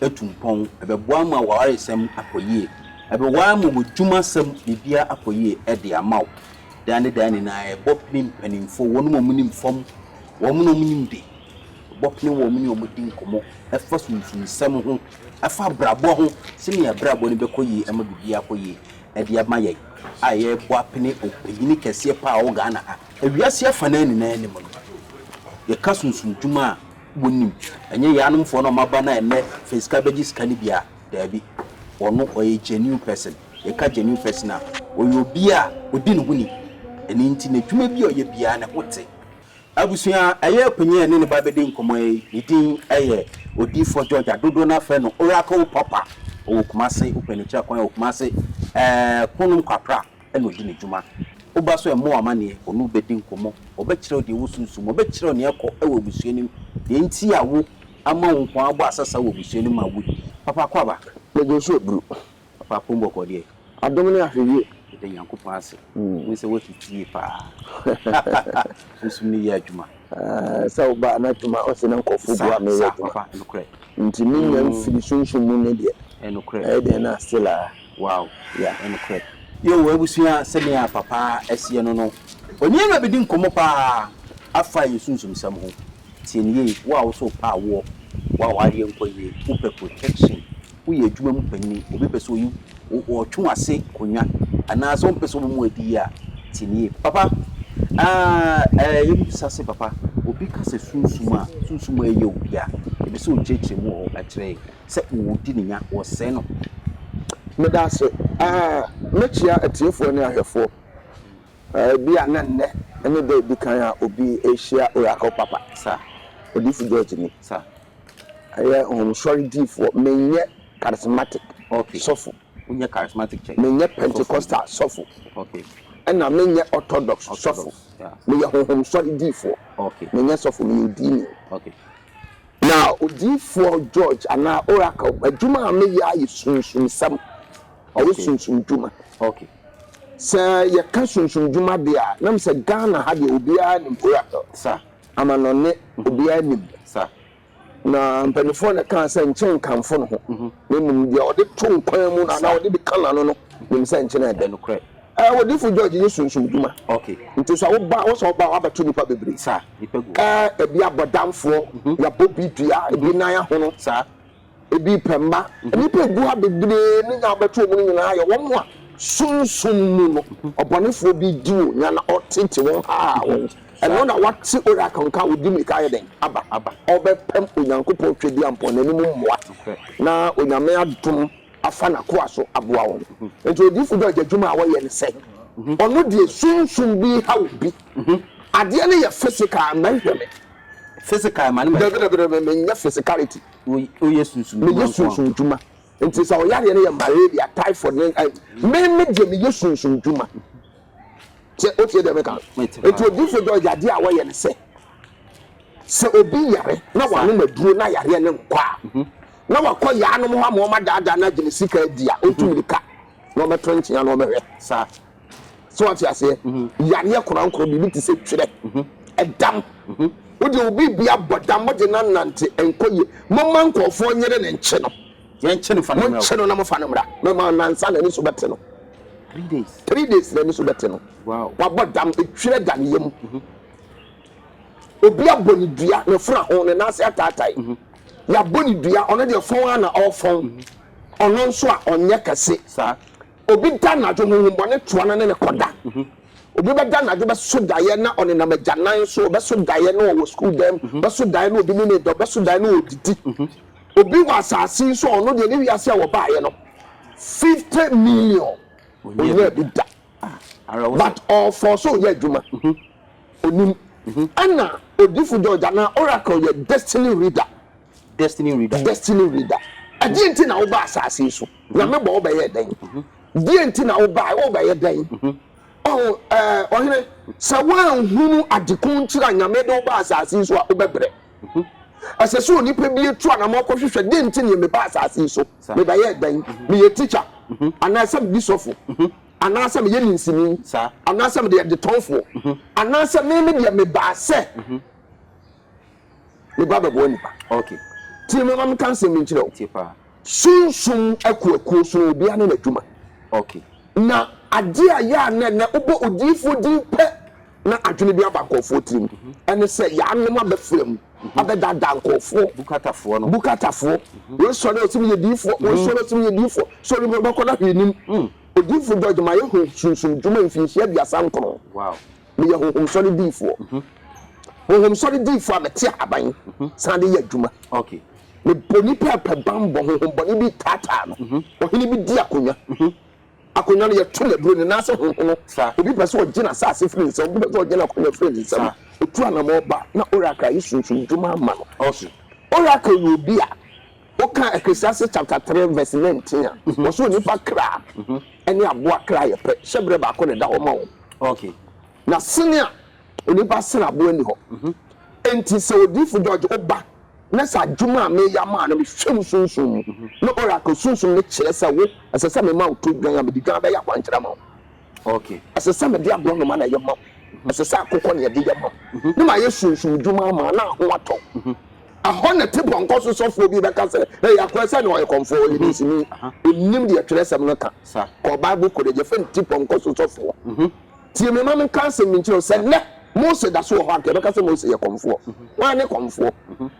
atu mpɔn, ɛbɛboa ma w'awaresɛm akɔ yie, ɛbɛboa ama w'adwumasɛm biribiara akɔ yie de ama wo. Daa ne daa nyinaa yɛbɔ pene mpanimfoɔ, wɔn a wɔnim fam, wɔn a wɔnim de, yɛbɔ pene wɔn ne wɔn di nkɔmmɔ fa sunsumsɛm ho, fa abrabɔ ho, sɛdeɛ yɛn abrabɔ no bɛkɔ yie ama biribiara akɔ yie de ama yɛn a yɛrebɔ apene ɔpanyin kɛseɛ pa ara wɔ Ghana ha, wiase afanaa nyinaa anim no. Yɛka sunsumdwuma a, Wonim. Ɛnyɛ yɛn anomfoɔ no a wɔaba no a ɛnnɛ Fensika bɛgye sika no bi a, daabi. Ɔno, ɔyɛ genuine person. Yɛka genuine person a, ɔyɛ obi a ɔdi ne ho ni. Ɛno nti, n'adwuma bi a ɔyɛ biara no, ho te. Abusua a ɛyɛ apanyin a yɛne no ba bɛdi nkɔmmɔ yi, ne din yɛ Odiyifoɔ George a dodoɔ no ara frɛ no Oracle Papa. Ɔwɔ Kumase, wopɛ no kyerɛ kwan a, wɔ Kumase, ɛɛ, Konom Kwapra. na ɔdi ne dwuma. Woba so mmɔ wo amanneɛ, wo ne wo bɛdi nkɔmmɔ, ɔbɛkyerɛ wo deɛ wosunsum, ɔbɛkyerɛ wo nea ɛkɔ wɔ abusua no mu, deɛ nti a wo ama wo nko ara bɔ asasa wɔ abusua no mu a wodie. Papa Kwabak. Mego nso aburu. Papa Apom bɔkɔɔ deɛ. Adom ne ahwɛyie. Yɛda Nyankopɔn ase. Wohu sɛ woasi fie paa. Sunsum no yɛ adwuma. Sɛ ɔbaa n'adwuma ɔse na nkurɔfoɔ boa me yɛ adwuma nti me nya mfiri sunsum mu ne deɛ ɛyɛ dɛn na still a yeah. Yoo abusua sɛnea papa asie no no ɔne awura bɛdi nkɔmmɔ paa afa yɛn sunsum sɛm ho tie no yie wo a wo so wo pɛ awoɔ wo a wareɛ nkɔ yie wo pɛ protection woyɛ adwuma mu panyin, obi pɛ sɛ oyi wo, ɔtwe wo ase konwa anaasɛ ɔmpɛ sɛ wobɔ mu adi yi a, tie no yie. Papa, aah, ɛɛ, yɛ bisa sɛ, Papa, obi ka sɛ sunsum a, sunsum a ɛyɛ obi a, yɛpɛ sɛ okyerɛkyerɛ mu wɔ hɔ kyerɛ yɛn sɛ wɔdi ne nya, wɔsɛe no. Meda ase. Aah, mɛkyia atiefoɔ ne ahwɛfoɔ. Aah, ebia na nnɛ ne da a ɛdi kan a obi rehyia Oracle Papa. Saa. Odiyifo George ni. Saa. Ɛyɛ nhomsɔre diifoɔ. Menyɛ charismatic okay. sɔfo. Wonyɛ charismatic church. Menyɛ Pentecostal sɔfo. Okay. Ɛna menyɛ Orthodox, Orthodox sɔfo. Yeah. Meyɛ honhomsɔre diifoɔ. Okay. Menyɛ sɔfo, meyɛ odiini. Okay. Na odiifoɔ George anaa Oracle, adwuma a meyɛ ara yɛ sunsumsɛm. Ɛyɛ okay. sunsum dwuma. Okay. Sɛ yɛka sunsum dwuma deɛ a, na mesɛ Ghana ha deɛ obiara nim Oracle. Sir. Amanɔnne, obiara nim. Na mpanimfoɔ na ɛkaa sɛ nkyɛ nkamfo ne ho, na mmom deɛ ɔde to nkwan mu no anaa ɔde bi ka n'ano no nim sɛ nkyɛ no yɛ dɛ. Ɛɛ, Odiyifo George yɛ sunsumdwuma, nti sɛ wo ba, wo sɛ wo ba a, wabɛto nnipa bebree. Ɛɛ, ebi abɔdamfoɔ, yɛabɔ bi dua, ebi nan ahono, Ebi pɛ mma nnipa a egu ha bebree no nya wɔbɛto wɔn no nyinaa yɛ wɔn a sunsum mu no ɔbɔnefoɔ bi di wɔn nya na ɔtete wɔn hahaa wɔn. Ɛno na wate Oracle nka a ɔdi mmirika ayɛ dɛn aba. Ɔrebɛpam Onyankopɔn Tweaduampɔn no anim mmoa na Onyame adom afa n'akoa so aboa wɔn. Enti Odiifo George adwuma a ɔyɛ ne sɛ, ɔno deɛ sunsum bi reha obi. Adeɛ no yɛ physical, mɛhwɛ me. Physical ma no mɛhwɛ wo. Dabi dabi dabi, menyɛ physicality. woyɛ sunsum dwuma nko ara. dwuma. Nti sɛ ɔyareɛ no yɛ malaria, typhoid, ne eh, me me deɛ meyɛ sunsum dwuma. Sɛ wotie deɛ meka no. Nti odiifo dɔ yadeɛ a wɔyɛ no sɛ, sɛ obi yare na wanom aduro na yareɛ no nkɔ a, mhm. na wakɔ yaanom hɔ ama wɔn adaadaa no agyina sika adi a, ɔntu mhm. mirika na ɔbɛto nkyea na ɔbɛhwɛ. Saa. So wate aseɛ? Yareɛ korankoro biribi te sɛ twerɛ, ɛdam. Wo deɛ obi bi abɔ dam, mogye no anante, ɛnkɔ yie. Momma nkurɔfoɔ nyere ne nkye no. Yɛnkye no fa no mmra. Monkye no na mofa no mmra. Mɛma nansa na ani so bɛte no. Three days. Three days na ani so bɛte no. Wow. Wabɔ dam, etwerɛ da ne yam. Obi abɔ ne dua, ne fura ho, ne nan ase ataatae. Yɛabɔ ne dua, ɔno deɛ fɔn ara na ɔrefɔn. Ɔno nso a ɔnyɛ kɛse. Saa. Obi da anadwo honhommɔne toa no ne no kɔda. Obi bɛda anadwo bɛso daeɛ na ɔnenam agyanan so, ɔbɛso daeɛ na ɔwɔ sukuu dan mu, ɔbɛso daeɛ na obi ne no reda, ɔbɛso daeɛ na ɔredidi. Obi wɔ asase yi so a ɔno deɛ ne wiase a wɔbaeɛ no, 50 million ɔnyaa bi da. But ɔfɔɔ so ɔyɛ adwuma. Ɔnim. Ɛna odifo George anaa Oracle yɛ destiny reader. Destiny Reader. Destiny Reader. Ɛdeɛ nti na wobaa asase yi so? Nyame bɔ wo bɛyɛɛ dɛn? Deɛ nti na wobae? Wobɛyɛ dɛn? Ɔho, ɛɛ, ɔhene, sɛ woanhunu adeko nti a Nyame de wo baa asase yi so a, wobɛbrɛ. Ɛsɛ sɛ onipa bi atu anamɔ kɔhwehwɛ deɛ nti neɛ mebaa asase yi so, mebɛyɛɛ dɛn? Meyɛ tikya, anaasɛ medi sɔfo, anaasɛ meyɛ ninsini, anaasɛ mede ɛdetɔnfoɔ, anaasɛ me me deɛ mebaa sɛ. Me ba bɛboa nnipa. Okay. Tie me ma menka nsɛm bi nkyerɛ wo. Tie paa. Sunsum akuakuo sono obiara ne n'adwuma. Okay. Na adeɛ a yɛ a na ɛnɛ wobɔ odiyifoɔ din pɛ na adwene bi aba nkurɔfoɔ tirim mhm. ɛne sɛ yɛanom abɛfra mu mhm. abɛdaadaa nkurɔfoɔ. Bukatafoɔ no. Bukatafoɔ. Mhm. Wei sɔre ɔsɛ meyɛ diyifoɔ. Wei sɔre ɔsɛ meyɛ diyifoɔ. Sɔre mu bɛkɔ no ahwɛ anim. Mm. Odiyifoɔ George ma yɛhu sunsum dwuma mfinhyia aduasa nkron. Wow. meyɛ honhom sɔre diifoɔ. Honhom sɔre diifoɔ a mete ahaban san de yɛ adwuma. Mebɔ nnipa ɛpɛ bammɔ, honhom bɔne bi taataa no. Ɔhene bi di akonnwa. Akonnwa no yɛto no aburo, ne nan ase honhono. Obi pɛ sɛ ɔgye n'asase firi ne nsam, obi pɛ sɛ ɔgye n'akonnwa firi ne nsam. Ɔtu anammɔn ba na Oracle ayɛ sunsumdwuma ama no. Oracle yɛ obi a Woka Ecclesiastes chapter three verse nineteen a, wɔse onipa kra ne aboa kra yɛ pɛ, hyɛberɛ baako na ɛda hɔ ma wɔn. Na sene a onipa sene aboa nni hɔ. Enti sɛ Odiyifo George woba na sɛ adwuma a mereyɛ ama wo no mehwɛ mu sunsum mu, na Oracle sunsum no kyerɛ sɛ wo, ɛsɛ sɛ mema wo todwan a, mede dwan bɛyɛ akwankyerɛ ama wo. Okay. Ɛsɛ sɛ mede aborɔnoma na ɛyɛ ma wo. Mhm. Ɛsɛ sɛ akokɔ na yɛde yɛ ma wo. Mhm. Ne mayɛ sunsum dwuma ama na ho atɔ. Mhm. Ɛhɔ na te pɔnkɔ so sɔfoɔ bi bɛka sɛ, Ɛyɛ akorɛ sɛ na ɔyɛ kɔmfoɔ, ɔyɛ dinsini. Ɔnnim deɛ twerɛsɛm no ka. Kɔ Bible College, yɛfrɛ no te pɔnkɔ so sɔfoɔ. Tie me ma menka asɛm bi nkyerɛ wo sɛ nnɛ Mose da so wɔ hɔ anka yɛbɛka sɛ Mose yɛ kɔmfoɔ. Wɔn ne kɔmfoɔ,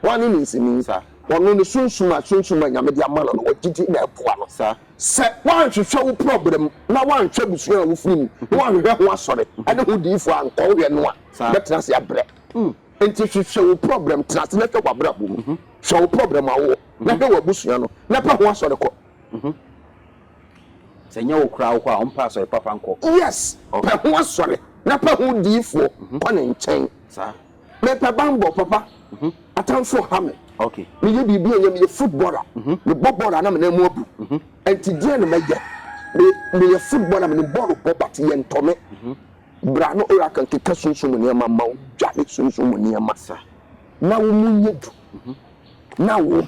wɔn ne dinsini. Ɔno ne sunsum a sunsum a Nyame de ama no no wɔgyegye na ɛboa no. Sɛ woanhwehwɛ wo prɔbrɛ mu na woanhwɛ abusua a wofiri mu na woanhwehwɛ ho asɔre ne ho diyifo a nkɔ wohwɛ no a, wobɛtena ase abrɛ. Enti hwehwɛ wo prɔbrɛ mu, tena ase na hwɛ w'abrabɔ mu. Hwɛ wo prɔbrɛ mu a wowɔ na hwɛ w'abusua no na pɛ ho asɔre kɔ. Sɛ ɛnyɛ wo koraa wokɔ a, ɔmpɛ asɔre papa nkɔ. Yes, pɛ ho asɔre na pɛ ho diyifoɔ kɔ ne nkyɛn. Mepɛ banbɔ papa mhm. atamfo ha me meyɛ biribi ɛnyɛ meyɛ footballer mhm. mebɔ bɔɔl a na me nan mu abu mhm. ɛnti deɛ na mɛyɛ meyɛ footballer mene bɔɔl bɔ but yɛntɔ me bra no ora kan keka sunsum nneɛma ma wo dwa ne sunsum nneɛma na wo mu nyɛ du na wo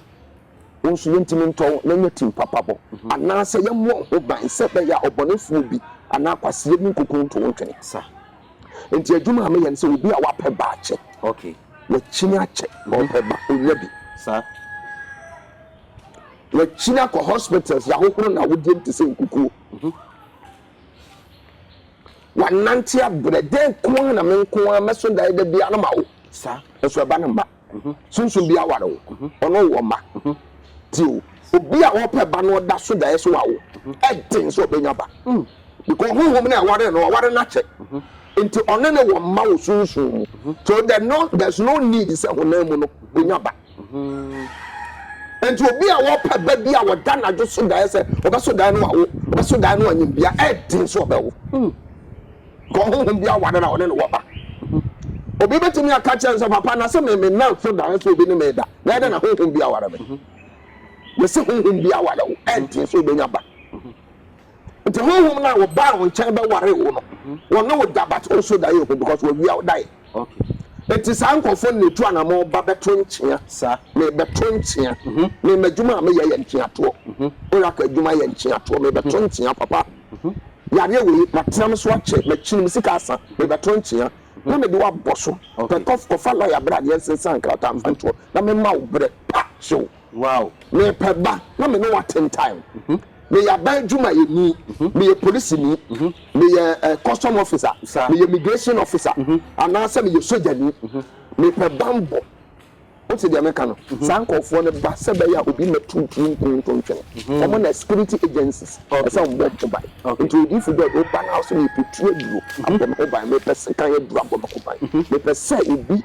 wo nso yɛntumi ntɔ wo na nyɛ tim papa bɔ anaasɛ yɛmmɔ ho ban sɛ bɛyɛ a ɔbɔnefoɔ bi anaa kwaseɛ bi nkokonto wo ntwene Nti adwuma a meyɛ no sɛ obi a wapɛ ba akyɛ. Okay. Wakyini akyɛ, ɔpɛ ba, onya bi. Saa. Wakyini akɔ hospitals, yɛahohoro na awodiem te sɛ nkukuo. Mhm. Wanante abrɛ, dɛn ko ara na me nko ara mɛso daeɛ da biara no ma wo. Saa. Nso ɛba no mma. Sunsum bi awar wo, ɔno wɔ mba. Tsie o, obi a ɔpɛ ba no ɔda so daeɛ sɛ ɔawo, ɛden sɛ ɔbɛnya ba, because honhom no a ɛwaree no, ɔwaree no akyɛ, nti ɔne no wɔ mma wɔ sunsum mu, so there's no need sɛ honam mu no ɔnya ba. Nti obi a ɔpɛ ba bi a ɔda nadwo so daeɛ sɛ ɔbɛso daeɛ na ɔawo, ɔbɛso daeɛ na ɔanyim bea, ɛden sɛ ɔbɛwo. Hwɛ ɔhonhom bi aware na ɔne no wɔ ba. Obi betumi aka kyerɛ no sɛ, Papa, na se me nnamfo da nso obi ne me da. Bɛyɛ dɛn na honhom bi aware me? Yɛse honhom bi aware wo, ɛnte sɛ obenya ba. Nti honhom no a ɔbaa wo nkyɛn bɛwaree wo no, ɔne wo da but ɔnso daeɛ ho because wawia wo daeɛ. Enti saa nkurɔfoɔ no na ɛtu anamɔn ba bɛto nkyea. Merebɛto nkyea. Me, m'adwuma a meyɛ yɛ nkyeatoɔ. Oracle adwuma yɛ nkyeatoɔ. Merebɛto nkyea, Papa. Yareɛ wei, matena me so akyɛ, makyini, me sika asa. Merebɛto nkyea. Na mede wo abɔ so. Pɛ, kɔ, kɔfa lɔya bra na yɛnsensan nkrataa mfa nto hɔ, na memma wo berɛ pa. Hyew. Wow! Mepɛ ba na me ne wo aten time. Meyɛ aban adwumayɛni, meyɛ polisini, meyɛ custom officer, meyɛ migration officer, anaasɛ meyɛ sogyani. Mepɛ bammɔ. Wote deɛ meka no? Saa nkurɔfoɔ no ba sɛ ɛbɛyɛ a obi mmɛto wo pie nku wo ntontwene. Wɔn na security agencies, ɛsɛ sɛ wɔbɔ wɔn ho ban. Nti Odiyifu George, woba na wo sɛ mepɛ tuo aduro abɔ me ho ban, mepɛ sekan aduro abɔ me ho ban, mepɛ sɛ obi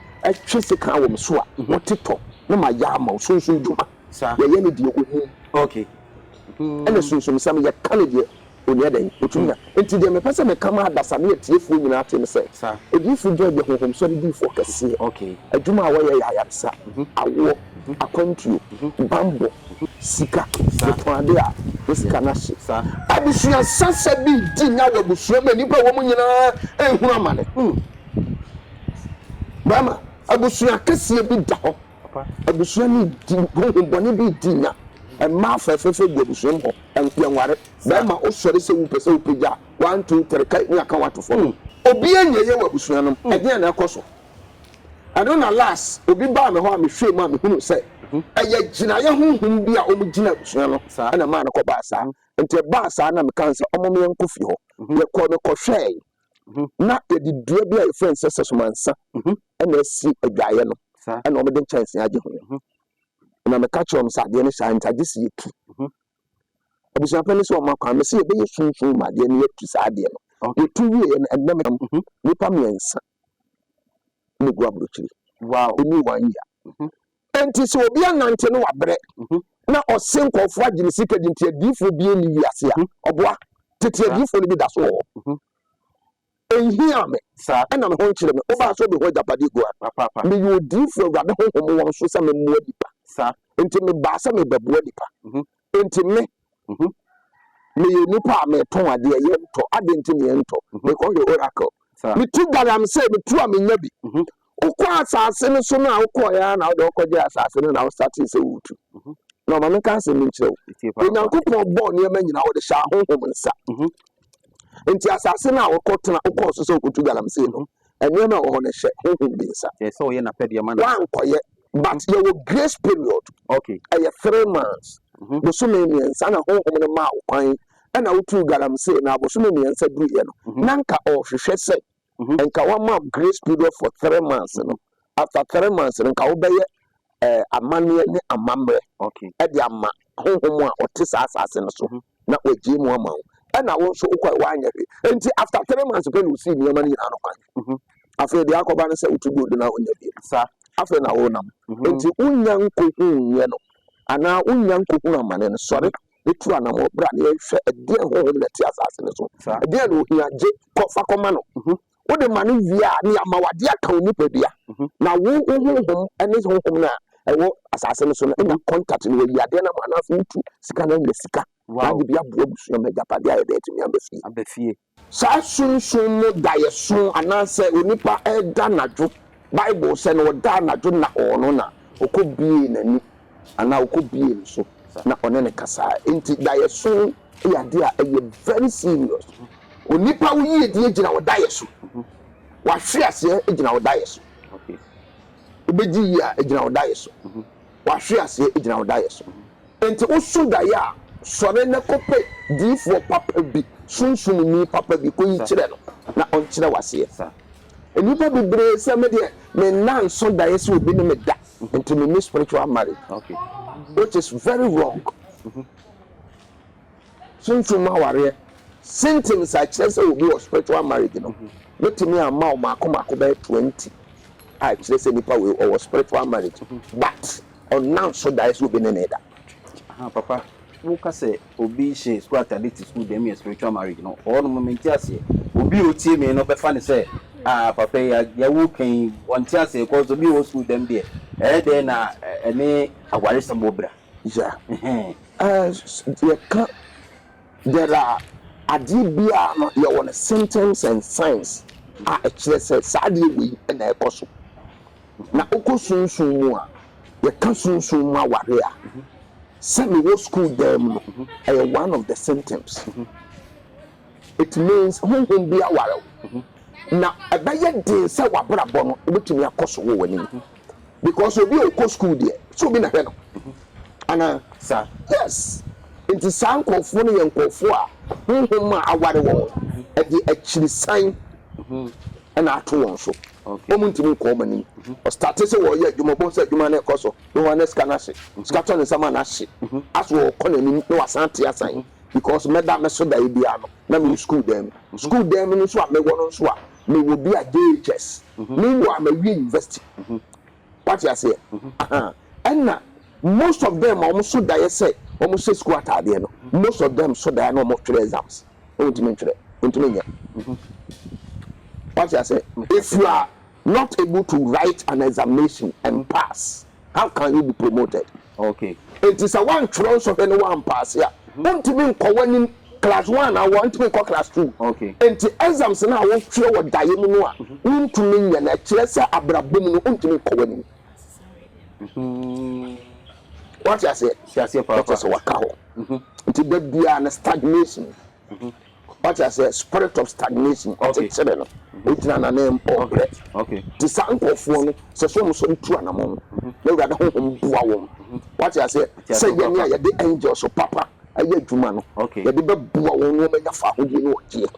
Twe sekan wɔ me so a ho te tɔ na ma yɛ ama wo. Sunsum dwuma yɛ yɛ ne deɛ ɔhum ɛne sunsumsɛm yɛ ka ne deɛ ɔnyɛ dɛn ɔtumi a. Nti deɛ mepɛ sɛ meka ma adasa ne atiefoɔ nyinaa te ne sɛ Odiyifoɔ Joy yɛ honhomsɔre diyifoɔ kɛseɛ. Adwuma a ɔyɛ yɛ ayaresa, awoɔ, akwantuo, banbɔ, sika, ɔtɔn adeɛ a ne sika no ahye. Abusua sasa bi di nya wɔ abusua mu a nnipa a ɛwɔ mu nyinaa nhunu amane. Bɛɛma, abusua kɛseɛ bi da hɔ. Abusua no redi, honhom bɔne bi redi nya. Mmaa fɛfɛɛfɛ gu abusua mu hɔ. Ɛnko ɛnware. Bɛɛma wosɔre sɛ wopɛ sɛ wopagya a, one, two, three, kae ne aka wato fam. Obiara nyɛ yie wɔ abusua no mu. Ɛdeɛn na ɛkɔ so? Ɛno na last obi baa me hɔ a mehwɛɛ mu a mehunuu sɛ ɛyɛ gyinaeɛ honhom bi a wɔgyina abusua no na ɛmaa no kɔbaa saa. Nti ɛbaa saa na mekaa sɛ ɔmom yɛnkɔ fie hɔ. Yɛkɔɔ mekɔhwɛɛe. Mhm. na yɛde dua bi a yɛfrɛ no sɛ sɛsomansa Mhm. ɛna asi adwaeɛ no Saa. ɛna wɔde nkyɛnse agye ho Mhm. na meka kyerɛ wɔn sɛ adeɛ no saa nti agye sɛ yɛtu Mhm. abusuapɛn no sɛ wɔma kwan me sɛ yɛbɛyɛ sunsum ma adeɛ no yɛatu saa adeɛ no Okay. yɛtu wieɛ no ɛnɛ mekam Mhm. nnipa mmiɛnsa na ɛgu aburokyiri Wow. ɛni one year Mhm. Enti sɛ obi anante no wabrɛ mhm. na ɔse nkurɔfoɔ agye ne sika di nti adiifoɔ bi ani wiase a mhm. ɔboa tete adiifoɔ no bi da so wɔ hɔ ɛnhia mhm. me ɛna me ho nkyerɛ me wobaa sɛ wobɛhu agyapadeɛ gu a meyɛ odiifoɔ awurade honhom wɔn so sɛ memmoa nipa nti mebaa sɛ mebɛboa nipa Enti me, meyɛ nipa a metɔn adeɛ, yɛntɔ, adɛn nti na yɛntɔ? Mekɔhwɛ Oracle, metu galamsey, metu a menya bi. Wokɔ asase no so no a, wokɔeɛ ara na wode wokɔgyee asase no na wo startee sɛ woretu. Na ma menka asɛm bi nkyerɛ wo, Onyankopɔn bɔɔ nneɛma nyinaa, ɔde hyɛɛ ahonhom nsa. Enti asase no a wokɔtena, wokɔɔ so sɛ wokɔtu galamsey no, Nneɛma a ɛwɔ hɔ no hyɛ honhom bi nsa. Ɛsɛ sɛ ɔyɛ n'apɛdeɛ ma no. Woankɔyɛ. But yɛwɔ grace period. Okay. Ɛyɛ three months. Bosome mmiɛnsa na honhom no maa wo kwan ɛna wotuu galamsey no a bosome mmiɛnsa duruiɛ no na nka ɔrehwehwɛ sɛ nka wama wo grace period for three months no After three months no, nka wobɛyɛ amanneɛ ne amammerɛ de ama honhom a ɔte saa asase no so, na wagyee mu ama wo. Ɛna wo nso wokɔe woanyɛ hwee. Enti after three months pɛ na wosii nneɛma no nyinaa no kwan. Afei deɛ akɔba ne sɛ wotu gold no a wonnya bio. Afei na wonam. Enti wonnya nkɔhunuiɛ no anaa wonnya nkɔhunu amane no, sɔre na tu anammɔn bra na yɛnhwɛ ɛdeɛn honhom na ɛte asase no so. Ɛdeɛn na ɔhia? Gye kɔ, fa kɔma no. wode ma no wie a, ne ama wade aka wo nipadua. Mhm. Na wo wo honhom ne honhom no a ɛwɔ asase no so no anya mhm. contact no wayi adeɛ no ma no afei wotu sika no anya sika. Na de bi aboa abusua ma agyapadeɛ a yɛde atumi aba fie. Aba fie. Saa sunsun mu daeɛso anaasɛ onipa ɛda anadwo Bible sɛ na ɔda anadwo na ɔno na ɔkɔbie n'ani anaa ɔkɔbie ne so na ɔne ne kasaa. Enti daeɛso yɛ adeɛ a ɛyɛ very serious. Onipa wo yiedie gyina wo daeɛ so. W'ahweaseɛ gyina wo daeɛ so. Wobɛgye yie a ɛgyina wo daeɛ so. W'ahweaseɛ gyina wo daeɛ so. Enti woso daeɛ a, sɔre na kɔpɛ diifoɔ papa bi, sunsumni papa bi, kɔyi kyerɛ no na ɔnkyerɛ wo aseɛ. Nnipa bebree sɛ me deɛ me nna nso daeɛ sɛ obi ne me da, enti menni spiritual marriage, which is very wrong. Sunsum mu awareɛ symptoms a ɛkyerɛ sɛ obi wɔ spiritual marriage no bɛtumi ama wo mako mako bɛyɛ twenty a ɛkyerɛ sɛ nipa wei ɔwɔ spiritual marriage but ɔnna nso daeɛ sɛ obi ne no reda. Aha papa wo ka sɛ obi hyɛ sukuu atade te sukuu dɛm yɛ spiritual marriage no hɔ nom mente aseɛ obi a ɔtie me no bɛfa no sɛ ah papa yi adeɛ wo ka yi ɔnte aseɛ cause obi wɔ sukuu dɛm deɛ ɛyɛ dɛn na ɛne awaresɛm wɔ bra. ya. Yɛka there are adeɛ biara no yɛwɔ no symptoms and signs a ɛkyerɛ sɛ saa adeɛ wei na ɛkɔ so. Na wokɔ sunsum mu a, yɛka sunsum mu aware a, sɛ mewɔ school dan mu no, ɛyɛ one of the symptoms. It means honhom bi aware wo. Na ɛbɛyɛ den sɛ w'abrabɔ no wobɛtumi akɔ so wɔ w'anim. because obi a ɔkɔ school deɛ sɛ obi na hwɛ no anaa sa yes nti saa nkurɔfoɔ no yɛ nkurɔfoɔ a honhom a aware wɔn no ɛde akyirisan ɛna ato wɔn so wɔn ntumi nkɔ wɔn anim ɔstate sɛ wɔyɛ adwuma bɔn sɛ adwuma no ɛkɔ so na wɔn ne sika no ahye sika tɔ ne nsɛm a no ahye aso wɔkɔ n'anim na wasan te asan because mɛda mɛso da ebi ano na mewɔ school dan mu school dan mu no nso a mewɔ no nso a mewɔ bi a JHS meanwhile mawie university wate aseɛ ahaa ɛna most of them a wɔn so daeɛ sɛ wɔn hyɛ school ataadeɛ no most of them so daeɛ na wɔn twerɛ exams na wɔn ntumi ntwerɛ wɔn ntumi nyɛ wate aseɛ if you are not able to write an examination and pass. How can you be promoted? Okay. Enti sɛ woantwerɛ nsɔhwɛ no woampaase a, wontumi nkɔ w'anim class one anaa wontumi nkɔ class two. Okay. Enti exams no a wotwerɛ wɔ daeɛ mu no a wontumi nyɛ no, ɛkyerɛ sɛ abrabɔ mu no wontumi nkɔ w'anim. Woate aseɛ? Ɛkyerɛ sɛ woaka hɔ. Nti da biara no stagnation. Wate aseɛ? Spirit of stagnation, ɔkyekyere no, ɔgyina n'anan mu, ɔbrɛ. Te saa nkurɔfoɔ no, sɛ sɛ wɔn sɔre tu anamɔn no, na Awurade honhom boa wɔn. Wate aseɛ? Sɛ yɛn a yɛde angels papa ayɛ adwuma no, yɛde bɛboa wɔn na wɔanya fahodie ne ɔgyeɛ,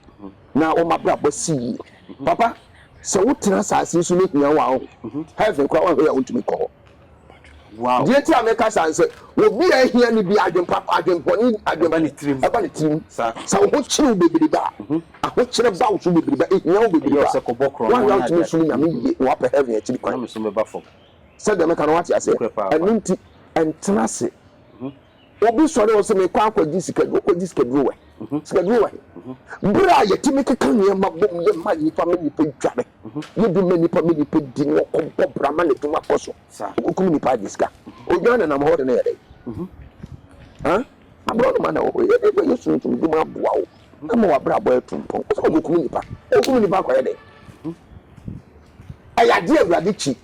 na wɔn abrabɔ asi yie. Papa, sɛ wotena asase yi so na ehia wo a, heaven koraa woanhwɛ yɛ a wontumi nkɔ hɔ. Deɛ nti a meka saa ne sɛ, obi a ahia no biara adwempapa, adwempɔne ɛba ne tirim. Ɛba ne tirim. Sɛ wo ho kyere wo bebrebe a, ahokyerɛ ba wo so bebrebe a, ehia wo bebrebe a, woanhwɛ a wotumi som Nyame yie na woapɛ heaven akyiri kwan. Sɛdeɛ meka no, woate aseɛ? Ɛno nti, ntena ase Obi sɔre a ɔse mekɔ akɔgye sika duro, ɔkɔgye sika duro wɔ he? Sika duro wɔ he? Berɛ a yɛtumi keka nneɛma bom yɛ ma nnipa ma nnipa dware, yɛ bi ma nnipa ma nnipa di na ɔkɔ bɔ bra ma n'adwuma kɔ so, ɔkɔkum nnipa agye sika. Odwan nenam hɔ de no yɛ dɛn? Haa? Aborɔnoma na ɛwɔ hɔ yi, ɛdeɛ bɛn Yesu ntumi dum aboa wo ama w'abrabɔ atu mpɔn? Ɔse ɔkɔkum nnipa, ɔkum nnipa akɔyɛ dɛn? Ɛyɛ adeɛ a Awurade kyi,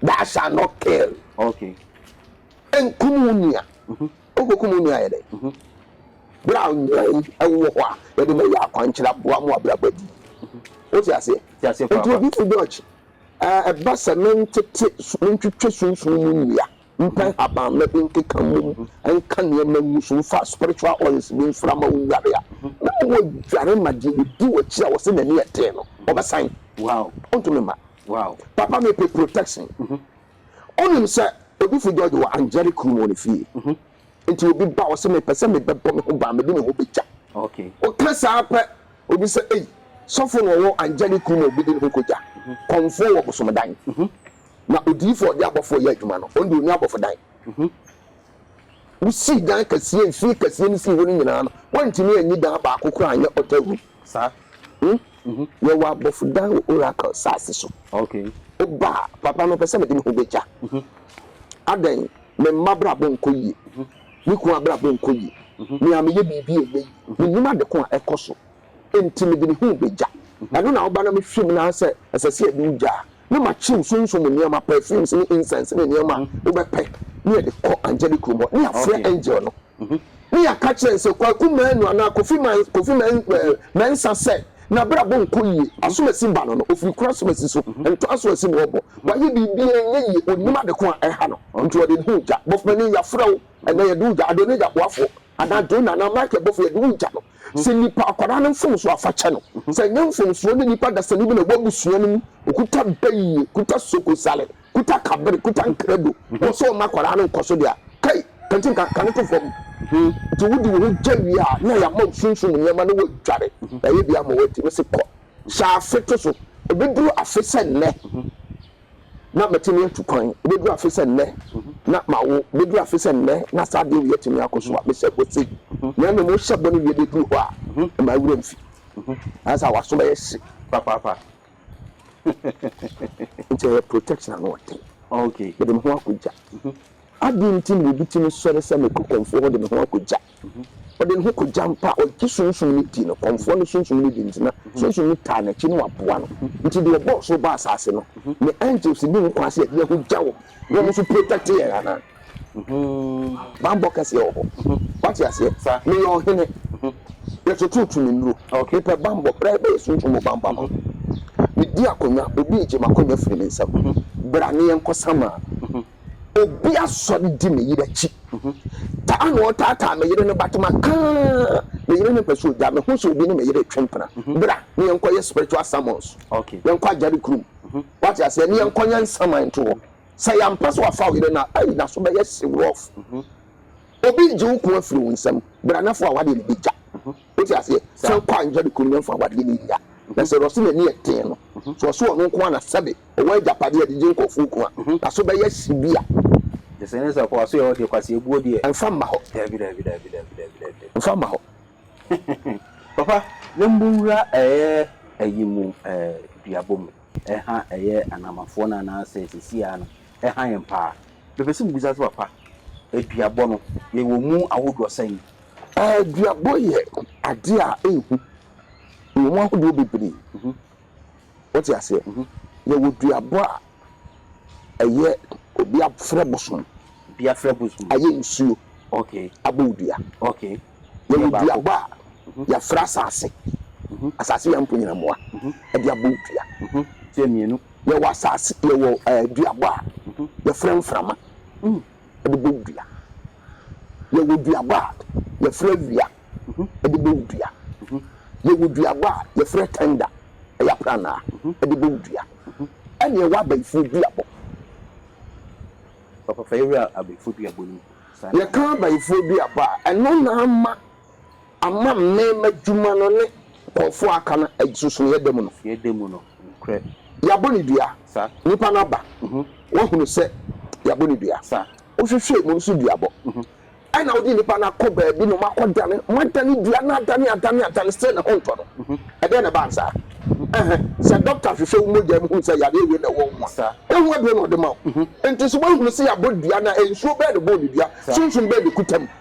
thou shalt not kill. Nkum wo nua. Wokokum wo nua a, ɛyɛ dɛn? Bere a nnuan wɔ hɔ a yɛde ma yɛ akwankyerɛ aboa mo abrabɔ adi. Wote aseɛ? Enti obi te Dutch, ɛba sɛ mentete, mentwitwe sunsum mu nnua, mpa nhabamma bi nkeka mmom, nka nneɛma ngu so, mfa spiritual oils bi mfra ma wo nguare a, na ma wɔaguare ma deɛ ɔdi w'akyi a wɔse n'ani yɛ den no, ɔbɛsan? Ɔntumi mma. Papa, mepɛ protection. Wonim sɛ Odifo George wɔ Angyere kurom wɔ ne fie. Enti obi ba hɔ sɛ, Mepɛ sɛ mebɛbɔ me ho ban, mede me ho begya. Woka saa pɛ, obi sɛ, Ei, sɔfo na ɔwɔ Angyere kurom a obedi ne ho kogya. Kɔmfoɔ wɔ bosomdan. Na odiyifo a ɔde abɔfo reyɛ adwuma no, ɔno deɛ onni abɔfodan. Wosii dan kɛseɛ, mfie kɛseɛ no sii hɔ no nyinaa no, wɔantumi anyi dan baako koraa anyɛ ɔtawurum. Saa. Hmm? Mhm. Yɛwɔ abɔfodan wɔ Oracle saase so. Okay. Woba a, papa, mepɛ sɛ mede me ho begya. Mhm. Adɛn? Me mma abrabɔ nkɔ yie. Mhm. Me kunu abrabɔ nkɔ yie. Mhm. Me a meyɛ biribi a ɛnyɛ yie. Menim ade ko a ɛkɔ so. Enti mede me ho begya. Mhm. Ɛno na woba na mehwɛ mu na sɛ ɛsɛ sɛ yɛde wo gya a, ne makyem sunsum nneɛma, perfumes ne incense ne nneɛma a wobɛpɛ na yɛde kɔ Angelic Room hɔ, na yɛafrɛ angel no, na yɛaka kyerɛ no sɛ, Kwaku Manu anaa Kofi Man, Kofi Man, eh, Mensah sɛ, n'abrabɔ nkɔ yie, asomasi ba no no, ɔfiri kuro asomasi so, ntɔ asomasi na ɔrebɔ, wayɛ biribiara ɛnyɛ yie, ɔnnim ade ko a ɛha no, nti ɔde ne ho regya, Bɔfo Manu, yɛafrɛ wo, ɛnnɛ yɛde wo regya, Adonija boafoɔ. Ana John anaa Michael bɔfo yɛ de wo gya no? Sɛ nipa akwadaa no mfomsoɔ afa kyɛ no. Sɛ ɛnyɛ mfomsoɔ ne nipa dasani bi na ɛwɔ abusua no mu, ɔkuta bayie, kuta sokosale, kuta kabere, kuta nkrado, na ɔsɛ ɔma akwadaa no nkɔso deɛ a, kai, ka nti nka, ka no to fam. Nti wode wo ho gya wie a, na yɛama wo sunsum nneɛma na woadware, yɛayɛ bi ama wo adi. Mese kɔ, hyɛ afe to so, ɛbɛduru afe sɛ nnɛ. na matumi atu kwan bɛduru afe sɛ nnɛ, na mawo bɛduru afe sɛ nnɛ, na saa adeɛ wei atumi akɔ so a, mehyɛ bɔ sei, na mmom wohyɛ bɔ no wie bɛduru hɔ a, mma wo werɛ mfi. Ayɛ sɛ w'aso bɛyɛ hye papaapa. Nti ɛyɛ protection ano ɔden. Mede me ho akɔgya. Adɛn nti na obi tumi sɔre sɛ mekɔ kɔmfoɔ hɔ de me ho akɔgya? Ɔde ne ho kɔgya mpo a, ɔgye sunsum no di no. Kɔmfoɔ no sunsum no di nti, na sunsum no taa n'akyi na waboa no. Nti deɛ ɔbɔɔ soro baa asase no ne angels nni ho kwan sɛ yɛde yɛn ho gya wɔn na wɔn nso protect yɛn anaa? Bammɔ kɛseɛ wɔ hɔ. Woate aseɛ? Meyɛ ɔhene. Yɛtoto tumi nnuro. Mepɛ bammɔ. Bra yɛbɛyɛ sunsum mu bammɔ ama wo. Medi akonnwa. Obi regye m'akonnwa firi me nsam. Bra na yɛnkɔ Samaa. obi asɔre di me yere akyi. Taa na ɔtaataa me yere no but maka me yere no mpɛ so ogya me ho sɛ obi ne me yere retwe mpena. Bra ne yɛnkɔ yɛ spiritual summons. Yɛnkɔ agyare kurom. Wate aseɛ ne yɛnkɔ yɛ nsaman to hɔ. Sɛ yɛampɛ sɛ wafa wo yere no a, ei n'aso bɛyɛ hye rough. Obi regye wo ko afiri wo nsam. Bra na fa w'adeɛ no bɛgya. Wote aseɛ? Sɛ wokɔ anwea de kɔnya mfa awadeɛ no nnya. Na sɛ Rɔsina ani yɛ den no, so ɔse ɔno nko ara na sɛbe ɔwɔ agyapadeɛ a ɛde gye nkorɔfoɔ nkwa a, na so bɛyɛ hye bi a. Nti sɛ ne sɛ ɔkɔ so yɛ hɔ deɛ, kwaseɛbuo deɛ. Mfa mma hɔ. Daabi, daabi, daabi, daabi, daabi, daabi. Mfa mma hɔ. Papa, na mmowura ɛyɛ ayi mu ɛɛ duabɔ mu, ɛha ɛyɛ Anamafoɔ no anaasɛ seesei ara no ɛha yɛn paa? Mepɛ sɛ mebisa sɛ papa, aduabɔ no yɛwɔ mu ahodoɔ sɛn? Aduabɔ yɛ adeɛ a ɛnhu. Yɛwɔ mu ahodoɔ bebree. Wote aseɛ? Yɛwɔ duabɔ a ɛyɛ obi afrɛ bosom, ayɛ nsuo abɔ wo dua. Yɛwɔ duabɔ a yɛafrɛ asase, asase yɛ mponnyinamoa de abɔ wo dua. Yɛwɔ duabɔ a yɛfrɛ mframa. de bɔ dua. Yɛwɔ duaba a yɛfrɛ awia de bɔ dua. Yɛwɔ duaba a yɛfrɛ tɛnda, ɛyɛ apranaa, de bɔ dua. Ɛna ɛwɔ abayifoɔ duabɔ. Papa fa yɛwura abayifoɔ duabɔ no mu. Yɛka abayifoɔ duabɔ a, ɛno na ama. Ama me m'adwuma no ne nkurɔfoɔ a aka no agyinsonoeɛ da mu no. Agyinsonoeɛ da mu no, nokorɛ. Yɛabɔ no dua. Sa. Nipa no aba. Woahunu sɛ yɛabɔ no dua. Sa. Wohwehwɛɛ mu no so duabɔ. Ɛna wode nipa no akɔ baabi na wɔakɔdane, wɔadane dua no adane, adane, adane, still ne ho ntɔ no. Ɛdeɛn na ɛbaa no saa? Ɛhɛ, sɛ dɔkta hwehwɛ wo mogya mu hunu sɛ yareɛ wei na ɛwɔ wo mu a, ɛho aduro na ɔde ma wo. Enti so woahunu sɛ yɛabɔ dua no a, nsuo bɛn na ɛbɔɔ no dua? Sunsum bɛn na ɛkuta mu?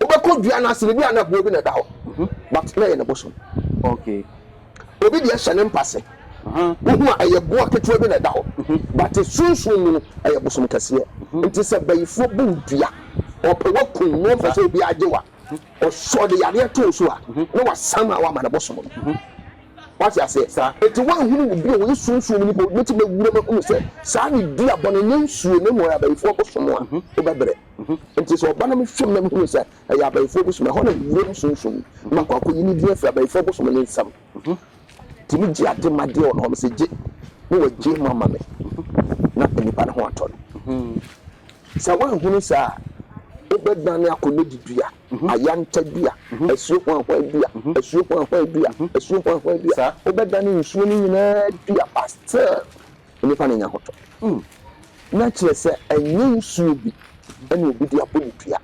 Wobɛkɔ dua no ase no ebi a na aboɔ bi na ɛda hɔ but na ɛyɛ ne bosom. Obi deɛ hyɛ ne mpase wohu a ɛyɛ boɔ ketewa bi na ɛda hɔ but sunsum mu no ɛyɛ bosom kɛseɛ. Nti sɛ bayifoɔ bu wo dua ɔpɛ wakum na ɔmpɛ sɛ obiara gye wo a ɔsɔ ɔde yadeɛ to wo so a na wasan a wama ne bosom no. Wate aseɛ? Nti woanhunu wo bio woyɛ sunsum mu nipa obi bɛtumi awura mu ahunu sɛ saa ne dua bɔne nyɛ nsuo na mmom ɛyɛ abayifoɔ bosom a wobɛbrɛ. Enti sɛ ɔba na mehwɛ mu na mehunu sɛ ɛyɛ abayifoɔ bosom a, ɛhɔ na wuram sunsum ma akɔ akɔyi ne din afiri abayifoɔ bosom no nsam. Enti megye ade ma deɛ ɔno hɔ, mese gye na wagye mu ama me na nnipa no ho atɔ no. Sɛ woanhunu saa a, wobɛdane akɔ Lady dua, Ayanta dua, Asuo Hwanhwan dua, Asuo Hwanhwan dua, Asuo Hwanhwan dua, wobɛdane nsuo no nyinaa dua but still nnipa no nya ho tɔ. Na kyerɛ sɛ, ɛnyɛ nsuo bi na obi de abɔ ne dua,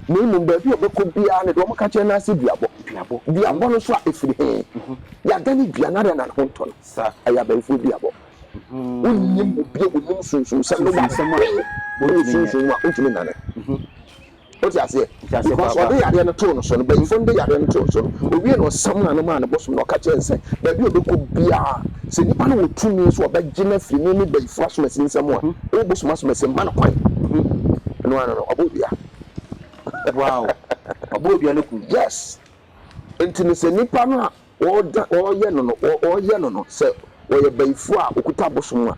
na mmom baabi a ɔbɛkɔ biara no, deɛ wɔka kyerɛ no ara sɛ duabɔ. Duabɔ no nso a, ɛfiri he? Yɛadane dua no adɛn na ne ho ntɔ no? Ɛyɛ abayifoɔ duabɔ. Wonnim obi a ɔnim sunsumsɛm no wɔ adepen a ɛwɔ sunsum mu a, wontumi nnane. Wote aseɛ? Nti aseɛ Because paapa. ɔde yareɛ no too no so no, mpanyimfoɔ no de yareɛ no too no so no, owiee no ɔsam n'ano maa ne bo som no, ɔka kyerɛɛ no sɛ, baabi a ɔbɛkɔ biara, sɛ nipa no wɔ tumi sɛ ɔbɛgye no afiri ne ne bayifoɔ asomasin nsam a, ɔwɔ bosom asomasin mma no kwan. Ɛno ara no no, ɔbɔɔ dua. Wow! Ɔbɔɔ dua no kum. Yes. Nti no sɛ nipa no a Wɔda wɔyɛ no no wɔyɛ no no sɛ ɔyɛ bayifoɔ a ɔkuta abosom a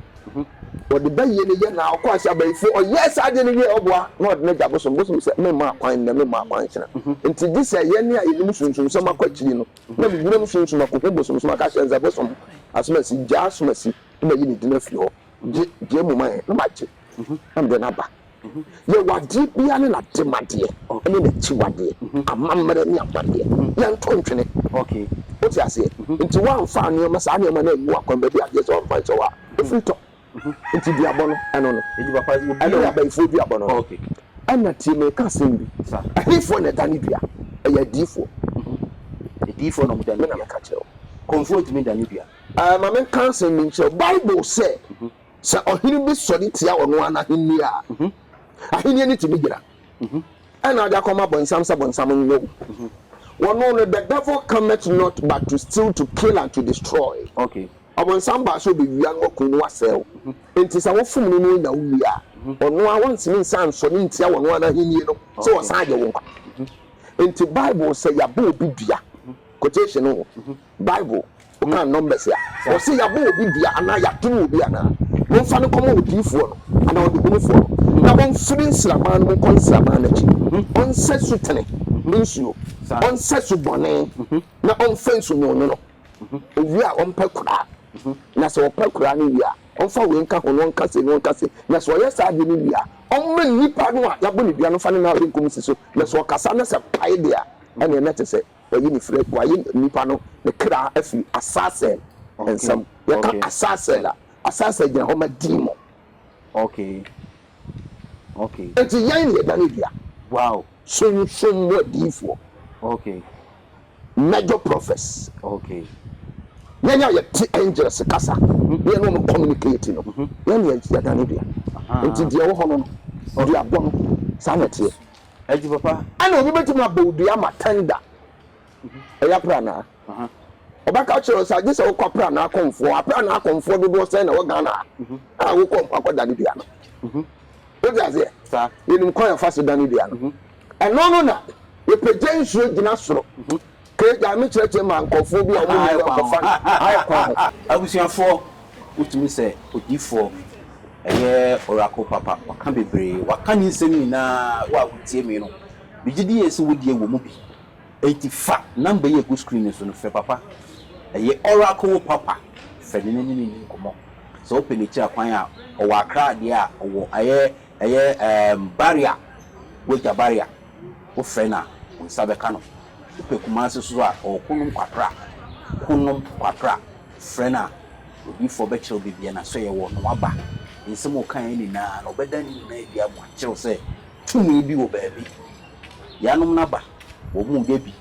ɔde bayie no yɛ na ɔkɔa sɛ abayifoɔ ɔyɛɛ saa adeɛ no wie a ɔboa na ɔde no agya abosom bosom sɛ memma akwan nnɛ memma akwan nkyena nti gye sɛ yɛne a yɛnim sunsumsɛm akɔ akyiri no na menyinam sunsum akɔhu bosomsom aka akyerɛ no sɛ bosom asomasi gyaa asomasi na mayi ne din afi hɔ gye gye mu ma yɛn na magye na mede no aba Yɛ w'adeɛ biara ne n'ademadeɛ ne n'akyiwadeɛ, amammerɛ ne amanneɛ. Yɛnto ntwene. Wote aseɛ? Nti woamfa nneɛma, saa nneɛma no angu w'akwan, baabi a agyeɛ sɛ woamfa nhyɛ hɔ a, ɛfiri tɔ. Nti duabɔ no, ɛno no. Ɛno ne abayifoɔ duabɔ no no. Ɛna tie, mereka asɛm bi. Ɛhefoɔ na ɛdane dua? Ɛyɛ adiyifoɔ. Adiyifoɔ na wɔdane dua. Me na meka kyerɛ wo. Kɔmfoɔ ntumi nnane dua. Ma menka asɛm bi nkyerɛ wo. Bible sɛ. Sɛ ɔhene bi sɔre tia ɔno ara n'ahenni a, ahenni no tumi gyina, ɛnna ɔde akɔma bonsam sɛ bonsam nyɛ wo. Wɔno no, the devil cometh not but to steal, to kill and to destroy. Ɔbonsam baa sɛ ɔbɛwia na wakum na wasɛe wo. Enti sɛ wofom no na ɔnya wo wie a, ɔno ara ɔntumi nsan nsɔre ntia ɔno ara n'ahenni no sɛ ɔsan agye wo nkwa. Enti Bible sɛ yɛabɔ obi dua, quotation o, Bible, wokan Numbers a, wɔse yɛabɔ obi dua anaa yɛadom obi anaa, momfa no nkɔma odiyifoɔ no anaa ɔdehunufoɔ no, na ɔmfiri nsraban no mu nkɔ nsraban no akyi, ɔnsɛ sutene nsuo, ɔnsɛ subɔne, na ɔmfa nsu nwonono, ɔwie a ɔmpɛ koraa, na sɛ ɔpɛ koraa no wie a, ɔmfa wei nka ho na ɔnka sei na ɔnka sei, na sɛ ɔyɛ saa adeɛ no wie a, ɔmma nnipa no a yɛabɔ no dua no mfa ne nan benkum nsi so, na sɛ ɔkasa na sɛ pae deɛ a, ɛnneɛ na ɛte sɛ. Wayi ne firi, wayi nipa no ne kra afiri Asasel nsam. Yɛka Asasel a, Asasel gyina hɔ ma demon. Okay. Okay. Nti yɛn na yɛdane dua. Wow. Sunsum mu adiyifoɔ. Okay. Major prophets. Okay. Yɛn a yɛte angels kasa, mhm. ne yɛn wɔn communicate no, mhm. yɛn na yɛdane dua. Nti deɛ ɛwɔ hɔ no no, duabɔ no, saa na ɛteɛ. Ɛgye papa. Ɛna obi bɛtumi abɔ wo dua ama tender. Ɛyɛ apranaa. Ɔbɛka akyerɛ wo sɛ agye sɛ wokɔ apranaa kɔmfoɔ. Apranaa kɔmfoɔ dodoɔ sɛn na ɛwɔ Ghana ha a wokɔ mpo akɔdane dua no? Wote aseɛ? Yɛnim kwan a yɛfa so dane dua no. Ɛno no na yɛpagya nsuo gyina soro Kay gyae me kyerɛkyerɛ ma nkorɔfoɔ bi a wɔn nni hɔ nkɔfa no ayɛ kwan ho. Abusuafoɔ, wotumi sɛ odiyifoɔ, ɛyɛ oracle papa, waka bebree, waka ne nsɛm nyinaa, wo a wotie me no, megye di yie sɛ wo deɛ wɔ mu bi, enti fa number yi a ɛgu screen no so no frɛ papa, ɛyɛ oracle papa, frɛ no na ne no nni nkɔmmɔ, sɛ wopɛ no akyiri akwan a, ɔwɔ Accra deɛ a, ɔwɔ ɛyɛ ɛyɛ ɛɛm Barria, Guaita Barria. wofrɛ no a, wo nsa bɛka no. Wopɛ Kumasi so a, ɔɔko nom kwapra, ko nom kwapra, frɛ no a, odiyifoɔ bɛkyerɛ wo baabi a n'asoɛeɛ wɔ na waba. Nsɛm a ɔkaeɛ nyinaa no, ɔbɛda ne nyinaa adi ama wo, akyerɛ wo sɛ tumi bi wɔ baabi. Yeianom no aba, wɔreyɛ bi,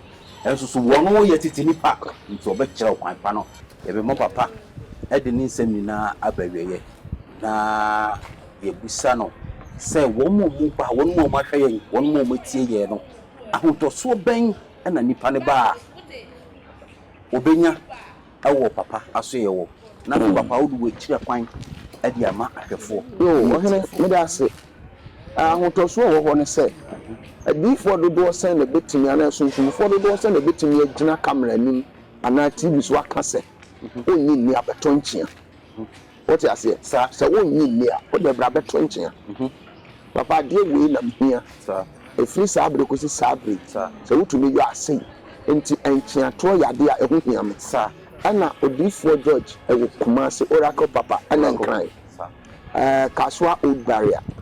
nanso so wɔyɛ tete nnipa? Enti ɔbɛkyerɛ wo kwan pa no. Yɛbɛma papa de ne nsɛm nyinaa aba awieeɛ na. yɛbisa no sɛ, Wɔn a wɔba, wɔn a wɔahwɛ yɛn, wɔn a wɔatie yɛn no, ahotosoɔ bɛn na nipa no ba a, ɔbɛnya wɔ papa asoɛeɛ wɔ? Nanso papa, wode w'akyiri akwan de ama ahwɛfoɔ. O ɔhene, meda wo ase. Ahotosoɔ a ɛwɔ hɔ ne sɛ, adiyifoɔ dodoɔ sɛn na ɛbɛtumi anaa asunsumfoɔ dodoɔ sɛn na ɛbɛtumi agyina kamera anim anaa TV so aka sɛ, Ɔnnye nni abɛtɔ nkyea? Wote aseɛ? Saa. Sɛ wonnye nni a, wodeɛ bra bɛto nkyea. Papa, adeɛ wei na mehia. Saa. Ɛfiri saa berɛ kɔsi saa berɛ yi, Saa. sɛ wotumi yɔ a, sei. Enti ntweatoɔ yɛ adeɛ a ɛho hia me. Saa. Ɛna Odiyifoɔ George wɔ Kumasi, Oracle Papa, ɛna Oracle. nkan. Saa. Ɛɛ, Kasoa Old Barrier.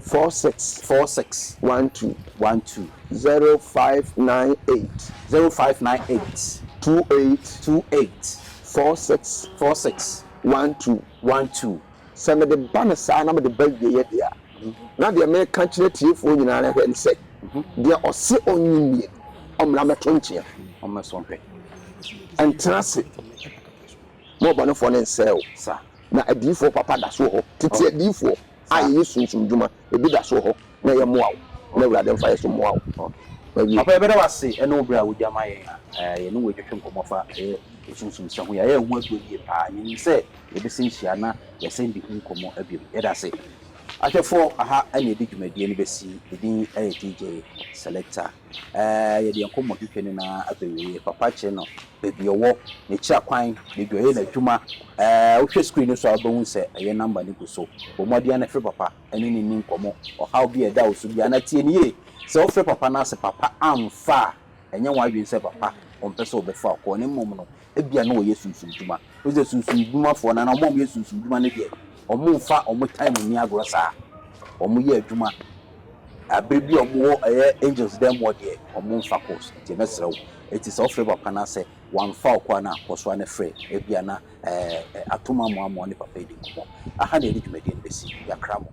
four six. four six. one two. one two. zero five nine eight. zero five nine eight. two eight. two eight. four six. four six. one two. one two. Sɛ mede ba no saa na mede ba awieeɛ deɛ a, na deɛ mereka akyerɛ atiefoɔ nyinaa no hwɛ no sɛ, deɛ ɔse ɔnnye nnie no, ɔmmra mmɛto nkyea. Ɔmmɛso nhwɛ. Ɛntena ase. Mo ɔbɔnefoɔ no nsɛe o. Sa. Na adiyifoɔ papa da so wɔ hɔ. Tete adiyifoɔ. a yɛyɛ sunsum dwuma ebi da so wɔ hɔ na yɛmmoa wo na Awurade mfa yɛn so mmoa wo. Mawie. Papa yɛbɛda wo ase ɛne wo berɛ a wode ama yɛn a yɛne wo ɛtwetwe nkɔmmɔ fa ɛyɛ osunsum sɛ ho yɛ a ɛyɛ ho atuo yie paa yɛnim sɛ yɛbɛsɛn hyia na yɛsɛn di ho nkɔmmɔ biom yɛda ase ahwɛfoɔ aha ɛne ɛde dwumadie no bɛsi ne din ɛyɛ DJ selector. Ɛɛ, yɛde yɛn nkɔmmɔ twetwe no na afei yɛyɛ papa kyerɛ no baabi a ɔwɔ, n'akyira kwan, baabi a ɔyɛ n'adwuma. Ɛɛ, wohwɛ screen no so a, wobɛhu sɛ ɛyɛ nɔmba no gu so. Bɔ mmɔden na frɛ papa ne no nni nkɔmmɔ. Ɔhaw bi a ɛda wo so biara, na tie no yie. Sɛ wofrɛ papa na sɛ papa amfa a, ɛnyɛ w'adwene sɛ papa ɔmpɛ sɛ ɔbɛfa wo kɔ, na mmom no, Ebia na wɔyɛ sunsum dwuma. Wohu sɛ sunsum dwumafoɔ no anaa wɔn a wɔyɛ sunsum dwuma no deɛ, wɔmfa wɔn time nni agorɔ saa. Wɔyɛ adwuma. Berɛ bi a wɔwɔ ɛyɛ angels dan mu hɔ deɛ, wɔmfa course. Nti mɛsrɛ wo, enti sɛ wofrɛ papa no a sɛ wamfa wo kɔ a na kɔ so ara na frɛ. Ebia na ɛɛ atom amoamoa wo ne papa yi di nkɔmmɔ. Aha na yɛde dwumadie no bɛsi. Yɛakra mo.